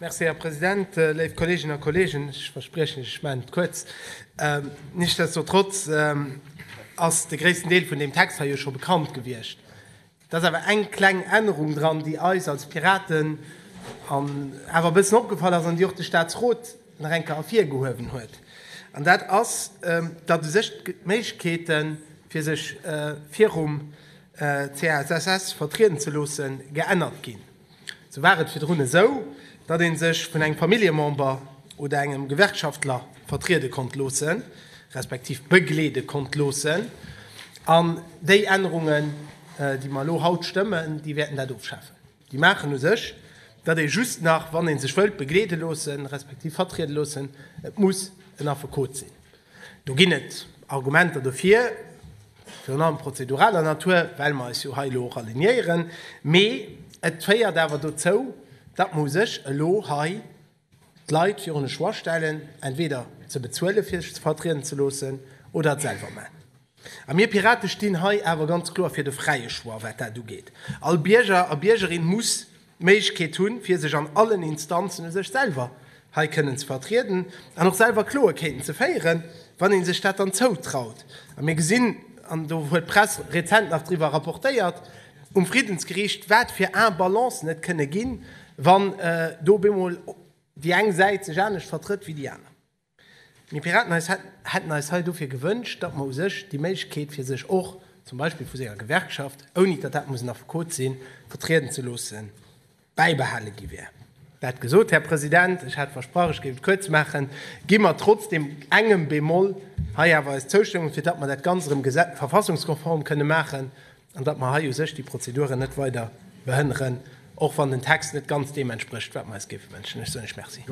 Merci, Här President. Léif Kolleeginnen a Kolleegen, ech verspriechen, ech maachen et kuerz. Nichtsdestotrotz ass de gréissten Deel vun deem Text hei jo scho bekannt gewiescht. Et ass awer eng kleng Ännerung dran, déi eis als Piraten awer e bëssen opgefall ass an déi och de Statsrot nach eng Kéier ervirgehuewen huet. An dat ass, datt u sech d'Méiglechkeete fir sech virum CASSS vertrieden ze loosse geännert ginn. Sou war et virdrun esou, datt ee sech vun engem Familljemember oder engem Gewerkschaftler vertriede konnt loosse respektiv begleede konnt loossen. An déi Ännerungen, déi mer elo haut stëmmen, déi wäerten dat ofschafen. Déi maachen u sech, datt ee just nach, wann ee sech wëllt begleede loosse respektiv vertriede loossen, et muss en Affekot sinn. Do ginn et Argumenter dofir, virun allem prozeduraler Natur, well mer eis jo hei elo och alignéieren. Mee et féiert awer dozou, datt mer u sech elo hei d'Leit virun e Choix stellen, entweder ze bezuele fir sech vertrieden ze loossen oder et selwer maachen. A mir Pirate stinn hei awer ganz kloer fir de fräie Choix, wat dat ugeet. All Bierger a Biergerin muss d'Méiglechkeet hunn, fir sech an allen Instanzen u sech selwer hei kënnen ze vertrieden an och selwer Kloekeeten ze féieren, wann ee sech dat dann zoutraut. A mir gesinn, an do huet d'Press rezent nach driwwer rapportéiert, um Friddensgericht, wat fir Imbalancen et kënne ginn, wann do bemol déi eng Säit sech anescht vertrëtt wéi déi aner. Mir Piraten eis hätten eis hei dofir gewënscht, datt mer u sech déi Méiglechkeet fir sech och, zum Beispill vu senger Gewerkschaft, ouni datt dat muss en Affekot sinn, vertrieden ze loossen, bäibehale gi wär. Dat gesot, Här President, ech hat versprach, ech géif et kuerz maachen, gi mer trotz deem engem Bémol hei awer eis Zoustëmmung, fir datt mer dat Ganzt erëm verfassungskonform kënne maachen an datt mer hei u sech déi Prozeduren net weider behënneren, och wann den Text net ganz deem entsprécht, wat mer eis géife wënschen. Ech soen lech Merci.